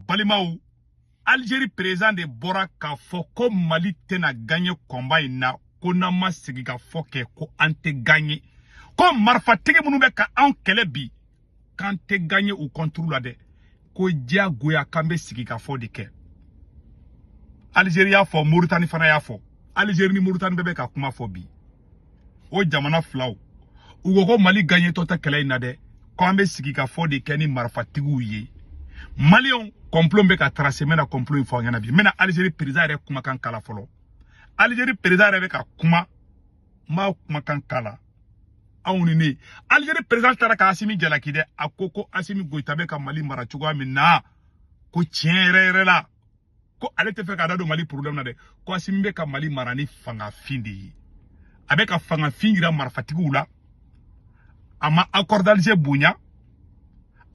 balimaw Algérie président de bɔra k'a fɔ ko Mali tɛna gagner combat in na ko n'an ma sigi ka fɔ kɛ ko an tɛ gagner ko marifatigi minnu bɛ ka anw kɛlɛ bi k'an tɛ gagner u contre la dɛ ko diyagoya k'an bɛ sigi ka fɔ de kɛ Algérie y'a fɔ Mauritanie fana y'a fɔ Algérie ni Mauritanie bɛɛ bɛ ka kuma fɔ bi o jamana filaw u ko ko mali gaɲetɔ tɛ kɛlɛ in na dɛ ko an bɛ sigi ka fɔ de kɛ ni marifatigiw ye maliyɛnw kɔnplo bɛ ka tarase n bɛna kɔnplo in fɔ aw ɲɛna bi n bɛna alizeri perezan yɛrɛ kumakan kala fɔlɔ alizeri perezan yɛrɛ bɛ ka kuma n b'a kumakan kala anw ni ne alizeri perezan taara ka asimi jalaki dɛ a ko ko asimi goyita bɛ ka mali mara cogoya min na ko tiɲɛ yɛrɛ yɛrɛ la ko ale tɛ fɛ k'a da don mali problème na dɛ ko asimi bɛ ka mali mara ni fangafin de ye a bɛ ka fangafin yira marifatigiw la a ma accord d'alger bonya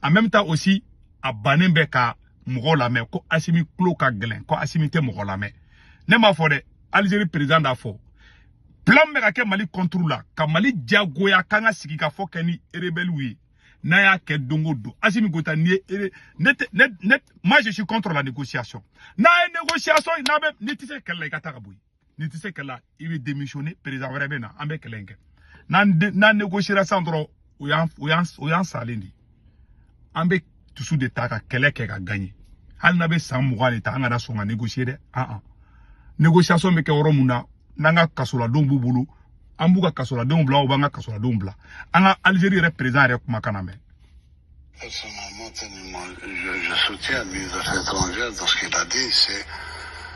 en même temps aussi a bannen bɛ ka mɔgɔ lamɛn ko asimi tulo ka gɛlɛn ko asimi tɛ mɔgɔ lamɛn ne m'a fɔ dɛ algérie président d'a fɔ plan bɛ ka kɛ mali contre la ka mali diyagoya k'an ka sigi ka fɔ kɛ ni rebɛliw ye n'a y'a kɛ don o don Asimi Goyita n'i ye ne tɛ ne ne moi je suis contre la négociation n'a ye négociation n'a bɛ n'i tɛ se kɛlɛ la i ka taa ka bɔ yen n'i tɛ se kɛlɛ la i bɛ démissionner président wɛrɛ bɛ na an bɛ kɛlɛ in kɛ n'an n'an négociera sisan dɔrɔn o y'an o y'an o y'an salen de ye an bɛ dusu de ta ka kɛlɛ kɛ ka gaɲe hali n'a bɛ san mugan de ta an kana sɔn ka negosiye dɛ an negosiyasɔn bɛ kɛ yɔrɔ mun na n'an ka kasoladenw b'u bolo an b'u ka kasoladenw bila u b'an ka kasoladenw bila an ka alizeri yɛrɛ perezan yɛrɛ kumakan lamɛn Personnellement, tellement, je, je soutiens le ministre des Affaires étrangères dans ce qu'il a dit, c'est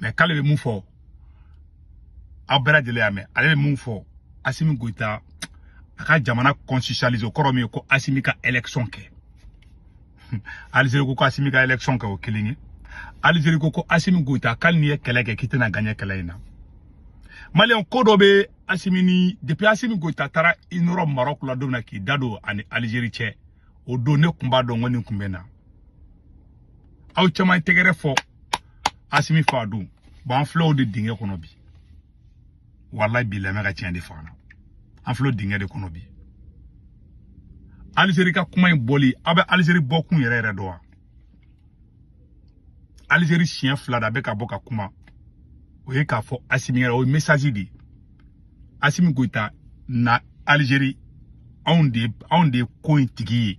mɛ k'ale bɛ mun fɔ aw bɛɛ lajɛlen y'a mɛn ale bɛ mun fɔ asimi goyita a ka jamana constitutionnaliser o kɔrɔ min ye ko asimi ka election kɛ alizeri ko ko asimi ka election kɛ o kelen ye alizeri ko ko asimi goyita k'ali n'i ye kɛlɛ kɛ k'i tɛna gaɲe kɛlɛ in na maliyɛnw ko dɔ bɛ asimi ni depuis asimi goyita taara i nɔrɔ marɔku la don min na k'i da don a ni alizeri cɛ o don ne tun b'a dɔn ko nin tun bɛ na aw caman ye tɛgɛrɛ fɔ asimi fa don bon an filɛ o de dingɛ kɔnɔ bi walayi bilayi n bɛ ka tiɲɛ de f'aw ɲɛna an filɛ o dingɛ de kɔnɔ bi alizeri ka kuma in bɔli aw bɛ alizeri bɔkun yɛrɛ yɛrɛ dɔn wa alizeri siɲɛ fila d'a bɛ ka bɔ ka kuma o ye k'a fɔ asimi ye o ye mesazi de ye asimi goyita na alizeri anw de anw de ye ko in tigi ye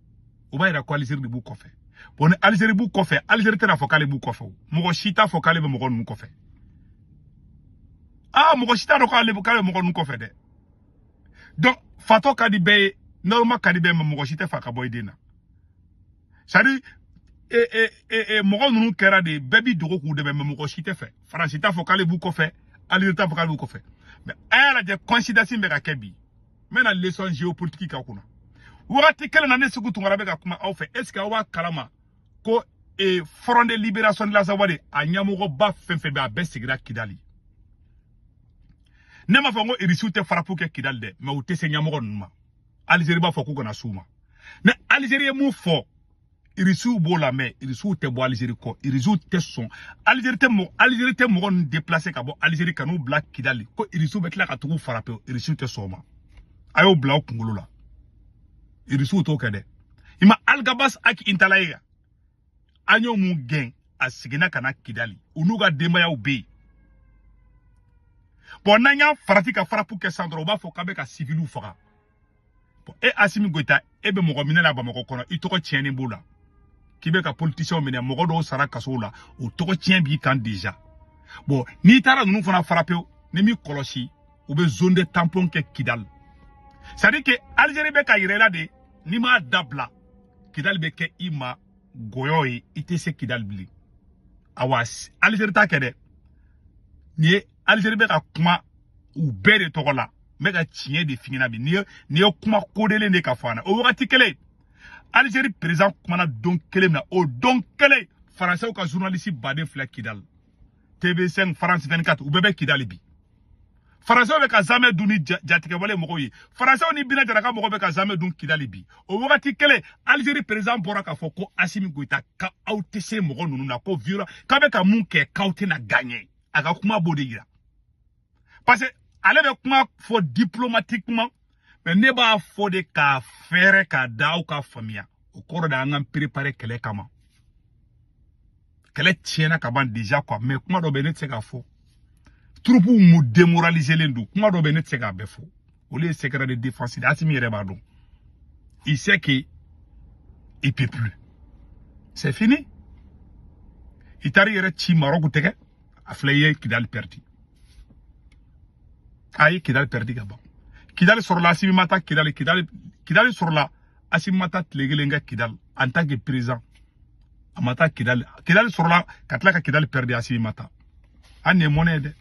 o b'a yira ko alizeri de b'u kɔfɛ bɔn ni alizeri b'u kɔfɛ alizeri tɛn'a fɔ k'ale b'u kɔfɛ o mɔgɔ si t'a fɔ k'ale bɛ mɔgɔ ninnu kɔfɛ aa mɔgɔ si t'a dɔn k'ale k'ale bɛ mɔgɔ ninnu kɔfɛ dɛ donc fatɔ ka di bɛɛ ye naloma ka di bɛɛ ye mɛ mɔgɔ si t'a f'a ka bɔ i den na c'est à dire e, e, e, e, mɔgɔ ninnu kɛra de bɛɛ b'i dogo k'u dɛmɛ mɛ mɔgɔ si t'a fɛ faransi t'a fɔ k'ale b'u kɔfɛ alizeri t'a fɔ k'ale b'u kɔfɛ mɛ a y'a lajɛ coïncidence bɛ ka kɛ bi n bɛna leçon géopolitique k'a kunna wagati kelen na ne seku tunkara bɛ ka kuma aw fɛ est ce que aw b'a kalama ko e, front de libération de l'azawad a ɲɛmɔgɔba fɛn fɛn bɛ a bɛɛ sigira kidali ne m'a fɔ n ko irisiw tɛ farapu kɛ kidali dɛ mɛ u tɛ se ɲɛmɔgɔ ninnu ma alizeri b'a fɔ k'u kana s'u ma mɛ alizeri ye mun fɔ irisiw b'o la mɛ irisiw tɛ bɔ alizeri kɔ irisiw tɛ sɔn alizeri tɛ mɔgɔ alizeri tɛ mɔgɔ ninnu deplase ka bɔ alizeri ka n'u bila kidali ko irisiw bɛ tila ka tag'u farape irisiw tɛ sɔn o ma a y'o bila aw kunkolo la irisiw t'o kɛ dɛ i ma aligabas ag intala ye an y'o mun gɛn a seginna ka na kidali u n'u ka denbayaw bɛ yen bɔn n'an y'a farati ka farapu kɛ sisan dɔrɔn u b'a fɔ k'an bɛ ka siviliw faga bɔn e asimi goyita e bɛ mɔgɔ minɛ la bamakɔ kɔnɔ i tɔgɔ tiɲɛnen b'o la k'i bɛ ka politisiyɛnw minɛ mɔgɔ dɔw sara kasow la o tɔgɔ tiɲɛ b'i kan deja bɔn n'i taara ninnu fana farape n'i m'i kɔlɔsi u bɛ zone de tampon kɛ kidali c'est à dire que algérie bɛ k'a yir'i la de n'i m'a dabila kidali bɛ kɛ i ma gɔyɔ ye i tɛ se kidali bilen awa algérie t'a kɛ dɛ nin ye alizeri bɛ ka kuma u bɛɛ de tɔgɔ la n bɛ ka tiɲɛ de f'i ɲɛ na bi n'i ye kuma kodelen de ka fɔ an o wagati kelen alizeri perezan kumana don kelen na o don kelen faransɛw ka zurunalisiba de filɛ kidali tv5 france 24 u bɛɛ bɛ kidali bi faransɛw bɛ ka zamɛ dun ni jatigɛwale mɔgɔw ye faransɛw ni bina jara ka mɔgɔw bɛ ka zamɛ dun kidali bi o wagati kelen alizeri perezan bɔra k'a fɔ ko asimi goyita k'aw tɛ se mɔgɔ ninnu na ko violence k'a bɛ ka mun kɛ k'aw tɛna gaɲɛ a ka kuma b'o de yira parce que ale bɛ kuma fɔ diplomatiquement mais ne b'a fɔ de k'a fɛɛrɛ k'a da aw k'a faamuya o kɔrɔ de an k'an prepare kɛlɛ kama kɛlɛ tiɲɛna ka ban déjà quoi mais kuma dɔ bɛ ne tɛ se k'a fɔ turupuw mu demoraliselen don kuma dɔ bɛ ne tɛ se k'a bɛɛ fɔ olu ye secret de défense de Asimi yɛrɛ b'a dɔn il sait que il peut plus c'est fini i taara i yɛrɛ ci Maroc tɛgɛ a filɛ a ye Kidali perdu a ye Kidali perdu ka ban Kidali sɔrɔla Asimi ma taa Kidali Kidali sɔrɔla Asimi ma taa tile kelen kɛ Kidali en tant que président a ma taa Kidali Kidali sɔrɔla ka tila ka Kidali perdu Asimi ma taa hali nin ye mɔnɛ ye dɛ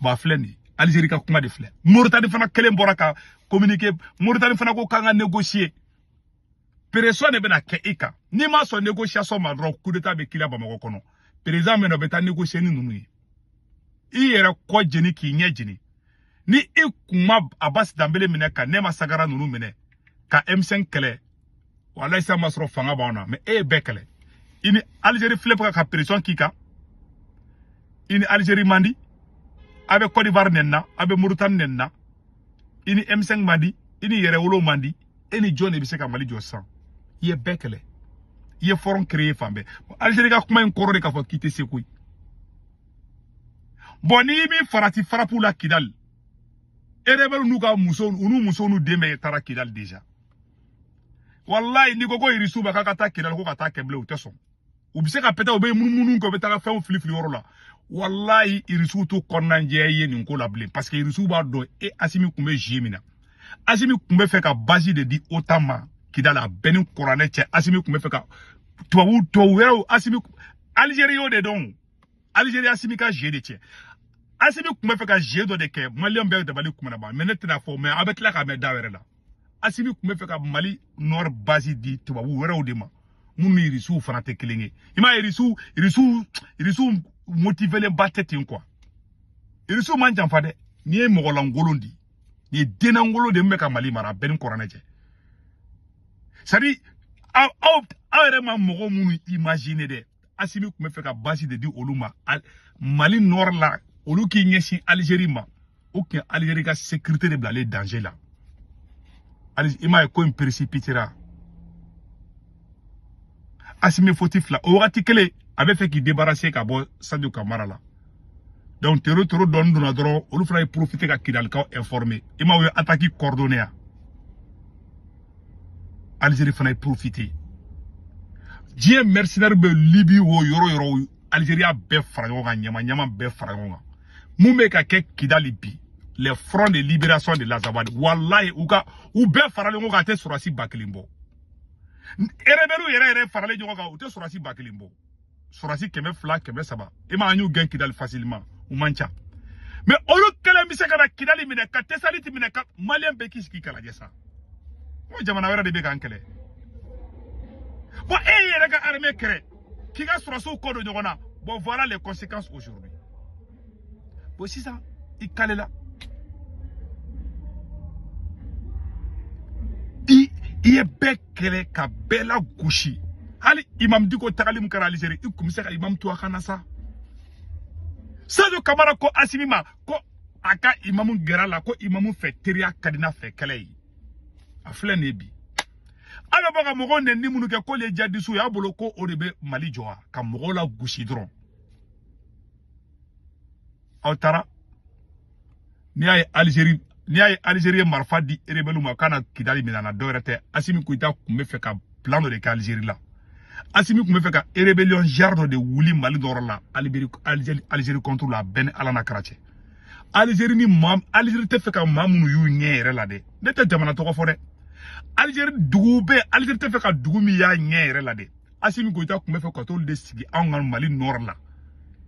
ba filɛ nin alizeri ka kuma de filɛ moritani fana kelen bɔra ka communiqué moritani fana ko k'an ka négocier pression de bɛna kɛ i kan n'i ma sɔn négociation ma dɔrɔn coup d'état bɛ k'i la bamakɔ kɔnɔ président min na o bɛ taa négocier ni ninnu ye i yɛrɛ kɔ jeni k'i ɲɛ jeni ni i kun ma abasi danbele minɛ ka nɛma sagara ninnu minɛ ka m5 kɛlɛ walayi sa ma sɔrɔ fanga b'anw na mɛ e ye bɛɛ kɛlɛ i ni alizeri filɛ bɛ ka pression k'i kan i ni alizeri man di a bɛ kɔdiwari nɛni na a bɛ moritani nɛni na i ni m5 man di i ni yɛrɛwolo man di e ni jɔn de bɛ se ka mali jɔ sisan i ye bɛɛ kɛlɛ i ye fɔrɔn créer fan bɛɛ alizeri ka kuma in kɔrɔ de k'a fɔ k'i tɛ se koyi bɔn n'i m'i farati farapu la kidali erebɛlu n'u ka musow u n'u musow n'u den bɛɛ taara kidali déjà wallahi n'i ko ko irisiw ma k'a ka taa kidali ko ka taa kɛ bilen u tɛ sɔn u bɛ se ka pɛtɛ u bɛ munumunu kɛ u bɛ taa fɛnw fili fili yɔrɔ la wallahi irisiw t'u kɔnɔnajɛya ye nin ko la bilen parce que irisiw b'a dɔn e asimi tun bɛ zie min na asimi tun bɛ fɛ ka basi de di otan ma kidali a bɛ n ni kuranɛ cɛ asimi tun bɛ fɛ ka tubabu tubabu wɛrɛw asimi alizeri y'o de dɔn alizeri asimi ka zie de cɛ asimi tun bɛ fɛ ka zie dɔ de kɛ maliyɛn bɛɛ dabali tun bɛna ban mɛ ne tɛn'a fɔ mɛ a bɛ tila k'a mɛn da wɛrɛ la asimi tun bɛ fɛ ka mali nord basi di tubabu wɛrɛw de ma minnu ni irisiw fana tɛ kelen ye i m'a ye irisiw irisiw irisiw motivelenba tɛ ten kuwa irisiw m'an janfa dɛ nin ye mɔgɔlankolon de nin ye dennankolon de min bɛ ka mali mara a bɛ n ni kuranɛ cɛ sadi aw yɛrɛ ma mɔgɔ minnu imagine dɛ asimi tun bɛ fɛ ka basi de di olu ma mali nɔr la olu k'i ɲɛsin alizeri ma o tun ye alizeri ka sekirite de bilalen danze la i m'a ye ko in peresipitera asimi fautif la o wagati kelen a bɛ fɛ k'i debarase ka bɔ sajo kamara la donc tero tero dɔɔni donna dɔrɔn olu fana ye profite ka kidalikaw informe i m'a ye ataki coordonne yan Algérie fana ye profité diɲɛ mercenaire bɛɛ Libye wo yɔrɔ yɔrɔ Algérie y'a bɛɛ fara ɲɔgɔn kan ɲama ɲama bɛɛ fara ɲɔgɔn kan mun bɛ ka kɛ Kidali bi les fronts de libération de l'Azawadi walayi u bɛɛ faralen ɲɔgɔn kan a tɛ sɔrɔdasi ba kelen bɔ rebelles yɛrɛ yɛrɛ faralen ɲɔgɔn kan u tɛ sɔrɔdasi ba kelen bɔ sɔrɔsi kɛmɛ fila kɛmɛ saba i m'a ye an y'u gɛn kidali fasilima u man ca mɛ olu kelen bɛ se ka na kidali minɛ ka tɛsaliti minɛ ka maliyɛn bɛɛ k'i sigi k'a lajɛ sa n ko jamana wɛrɛ de bɛ k'an kɛlɛ bɔn e yɛrɛ ka armée kɛlɛ k'i ka sɔrɔsiw kɔ don ɲɔgɔn na bɔn voilà les conséquences aujourd'hui bon sisan i kalela i i ye bɛɛ kɛlɛ ka bɛɛ lagosi hali imam diko tagali min kɛra alizeri i kun bɛ se ka imam to a ka na sa sadio kamara ko asimi ma ko a ka imamu gɛrɛ a la ko imamu fɛ teriya ka di n'a fɛ kɛlɛ ye a filɛ nin ye bi a bɛ bɔ ka mɔgɔw nɛni minnu kɛ k'olu ye jadisiw y'a bolo ko o de bɛ mali jɔ wa ka mɔgɔw lagosi dɔrɔn aw taara n'i y'a ye Algérie ye marifa di rebelles ma k'a na Kidali minɛ an na dɔwɛrɛ tɛ Assimi Goïta kun bɛ fɛ ka plan dɔ de kɛ Algérie la Assimi kun bɛ fɛ ka rébellion genre dɔ de wuli Mali nɔrɔ la Algérie contre la a bɛ n ni Ala n'a kira cɛ Algérie ni maa Algérie tɛ fɛ ka maa minnu y'u ɲɛ yɛrɛ la dɛ ne tɛ jamana tɔgɔ fɔ dɛ Algérie dugu bɛɛ Algérie tɛ fɛ ka dugu min y'a ɲɛ yɛrɛ la dɛ asimi goyita kun bɛ fɛ ka t'olu de sigi anw ka mali nɔrɔ la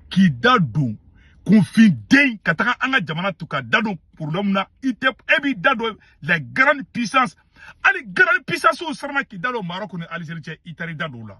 k'i da don kunfinden ka taga an ka jamana to ka da don problème na i tɛ e b'i da don la grande puissance hali grande puissancew siranna k'i da don maroc ni algérie cɛ i taara i da don o la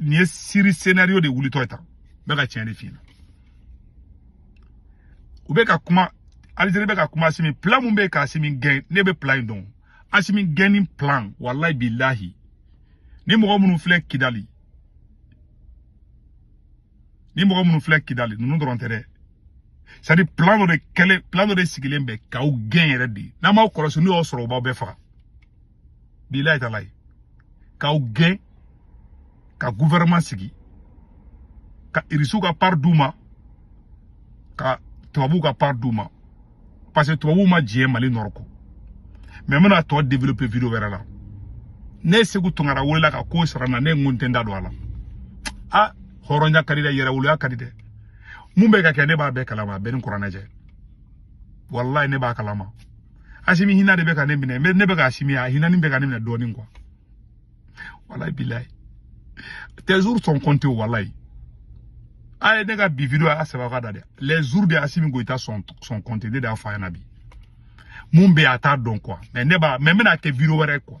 nin ye siri scénario de wulitɔ ye tan n bɛ ka tiɲɛ de f'i ɲɛna u bɛ ka kuma Algérie bɛ ka kuma Asimi plan mun bɛ ka Asimi gɛn ne bɛ plan in dɔn Asimi gɛnni plan walayi bilahi ni mɔgɔ minnu filɛ Kidali ninnu dɔrɔn tɛ dɛ c'est à dire plan dɔ de kɛlen plan dɔ de sigilen bɛ k'aw gɛn yɛrɛ de n'aw m'aw kɔlɔsi n'u y'aw sɔrɔ u b'aw bɛɛ faga bilayi talayi k'aw gɛn ka gouvernement sigi ka irisiw ka part d'u ma ka tubabuw ka part d'u ma parce que tubabuw ma diɲɛ mali nɔrɔ kɔ mais n bɛna a tɔ développer video wɛrɛ la ne seku tunkara welela ka ko sara n na ne n ko n tɛ n da don a la a hɔrɔnya ka di dɛ yɛrɛwoloya ka di dɛ mun bɛ ka kɛ ne b'a bɛɛ kalama a bɛ n ni kuranɛ cɛ walayi ne b'a kalama asimi hina de bɛ ka ne minɛ ne bɛ ka asimi a hinani bɛ ka ne minɛ dɔɔnin quoi walayi bilayi tes jours sont comptés walayi a ye ne ka bi video a sɛbɛn ka da dɛ les jours de asimi goyita sont comptés ne de y'a fɔ a ɲɛna bi mun bɛ yen a t'a dɔn quoi mais ne b'a mais n bɛna kɛ video wɛrɛ quoi